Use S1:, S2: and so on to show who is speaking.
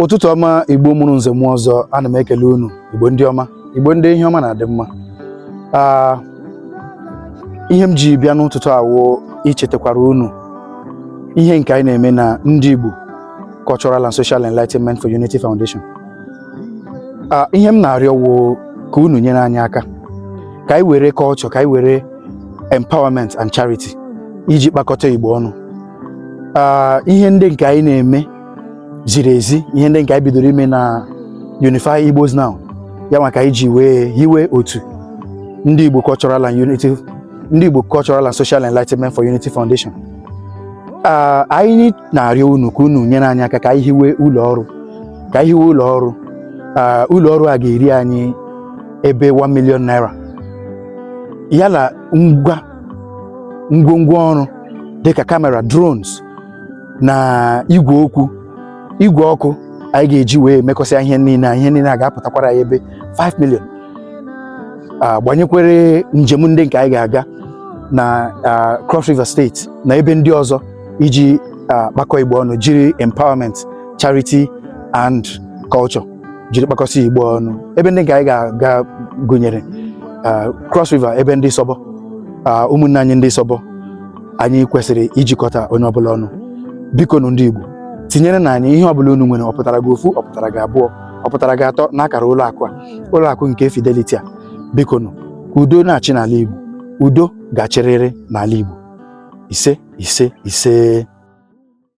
S1: ụtụtụ ọma igbo mụrụ nze mụọ ọzọ ana m ekele unu igbo ndị ọma igbo ndị ihe ọma na-adị mma ihe m ji bịa n'ụtụtụ a wụ ichetakwara unu ihe nke anyị na-eme na ndị igbo Cultural and Social Enlightenment for Unity Foundation ihe m na-arịọ wụ ka unu nyere anyị aka ka anyị were culture ka anyị were empowerment and charity iji kpakọta igbo ọnụ ah, ihe ndị nke anyị na-eme ziri ezi ihe ndị nke anyị bidoro ime na Unify Igbos Now ya nwa ka anyị ji wee hiwe otu ndị Igbo Cultural and Unity ndị Igbo Cultural and Social Enlightenment for Unity Foundation ah, anyị na-arịọ unu ka unu nyere anyị aka ka anyị hiwe ụlọ ọrụ ka anyị hiwe ụlọ ọrụ ah, ụlọ ọrụ a ga-eri anyị ebe 1 million naira ya na ngwa ngwongwo ọrụ dịka kamera drones na igwe okwu igwe ọkụ anyị ga-eji wee mekọsịa ihe niile ihe niile a ga-apụtakwara anyị ebe 5 million agbanyekwere njem ndị nke anyị ga-aga na Cross River State na ebe ndị ọzọ iji kpakọ igbo ọnụ jiri empowerment charity and culture jiri kpakọsị igbo ọnụ ebe ndị nke anyị ga-aga gụnyere ah, cross river ebe ndị isobo ah, ụmụnne anyị ndị isobo anyị kwesịrị ijikọta onye ọbụla ọnụ biko nụ ndị igbo tinyere nụ anyị ihe ọbụla unu nwere ọ pụtara gị ofu ọ pụtara gị abụọ ọ pụtara gị atọ n'akara ụlọ akụ a ụlọ akụ nke fidelity a biko nụ ka udo na-achị n'ala igbo udo ga-achịrịrị n'ala igbo ise ise ise